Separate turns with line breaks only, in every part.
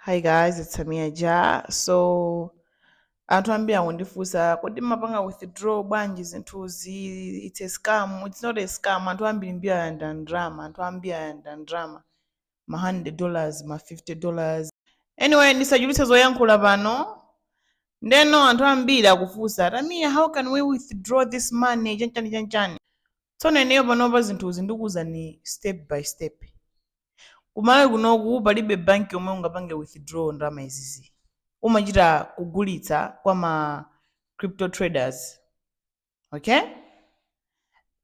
Hi guys, it's Tamiya Ja. So anthu ambiri akundifunsa kodi mumapanga withdraw bwanji zinthuzi it's a scam it's not a scam anthu ambiri mbiri ayanda ndrama anthu ambiri ayanda ndrama ma 100 dollars ma 50 dollars anyway ndisachulutse zoyankhula pano ndeno anthu ambiri akufunsa tamiya how can we withdraw this money chanchani chanchani tsono ineyo panopa zinthuzi ndikuwuzani step by step kumalawi kunoku palibe bank yomwe ungapange withdraw ndalama izizi umachita kugulitsa kwa ma crypto traders okay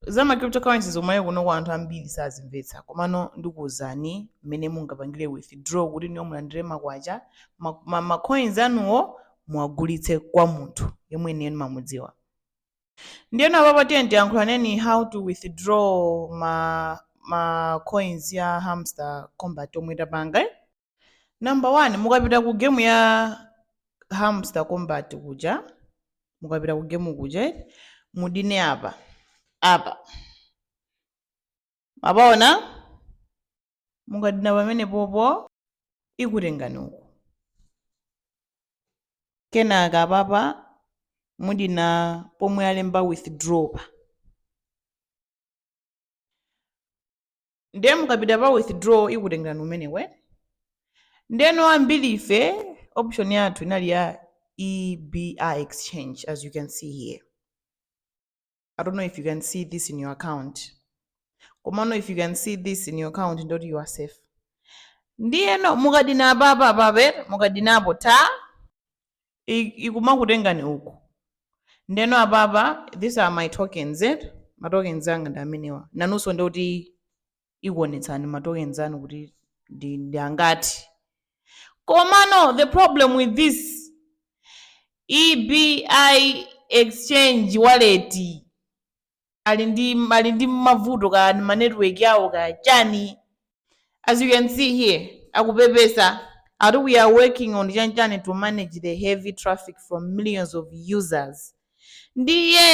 za ma cryptocurrencies kumalawi kunoku anthu ambiri sazimvetsa komano ndikuwuzani mmene mungapangire withdraw kuti inuyo mulandire makwacha ma, ma, ma coins anuwo muwagulitse kwa munthu yemwe ineyo ndimamudziwa ndiyeno apapa tiyeni tiyankhulaneni how to withdraw ma ma coins ya hamster combat omwe tapanga eh? number one mukapita ku game ya hamster combat kuja mukapita ku game kuja eh? mudine apa apa mwapaona mukadina pamenepopo ikutengani uku kenaka apapa mudina pomwe alemba withdraw pa ndiye mukapita pa withdraw ikutengani kumeneku ndeno ambiri ife option yathu inali ya ebi exchange as you can see here i don't know if you can see this in your account komano if you can see this in your account ndekuti you are safe ndiyeno mukadina apapa apabe mukadinapo ta i- ikumakutengani uku ndeno apapa these are my tokens eh? matokens anga ndi amenewa nanunso ndikuti ikuonetsani ma tokens anu kuti ndi, ndi angati komano the problem with this ebi exchange wallet ali ndi ali ndi mavuto ka ma network awo ka chani as you can see here akupepesa ati we are working on chanchani to manage the heavy traffic from millions of users Ndiye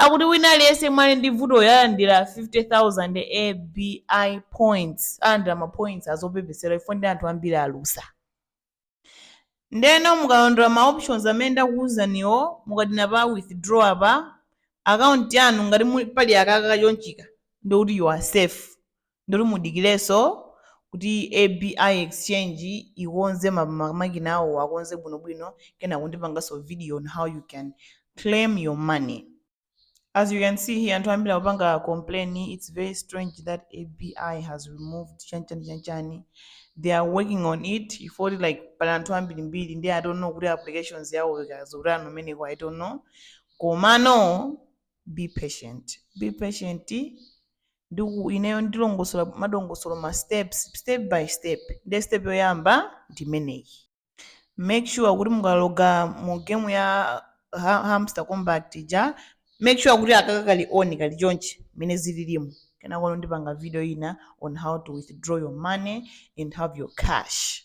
akuti wina aliyense yemwe ali ndi vutoli alandira 50,000 EBI points, alandira ma points azopepesera chifukwa ndi anthu ambiri alusa. Ndeno mukalondola ma options amene ndakuwuzaniwo mukadina pa withdraw apa, account yanu ngati muli pali akaka kachonchika ndekuti you are safe. Ndikuti mudikirenso kuti ABI exchange ikonze ma makina awo akonze bwinobwino kenako ndipanganso video on how you can claim your money. As you can see here anthu ambiri akupanga complain it's very strange that ABI has removed chani chani chani chani. They are working on it chifukwa kuti like pali anthu ambirimbiri ndi I don't know kuti applications yawo ikuzuzana kumeneko I don't know. Komano be patient be patient ndiye ineyo ndilongosola madongosolo ma steps step by step ndiye step yoyamba ndi imeneyi make sure kuti mukaloga mu game ya hamster combat ja make sure kuti akaka kali on kali chonchi mmene zililimo kenakono ndipanga video ina on how to withdraw your money and have your cash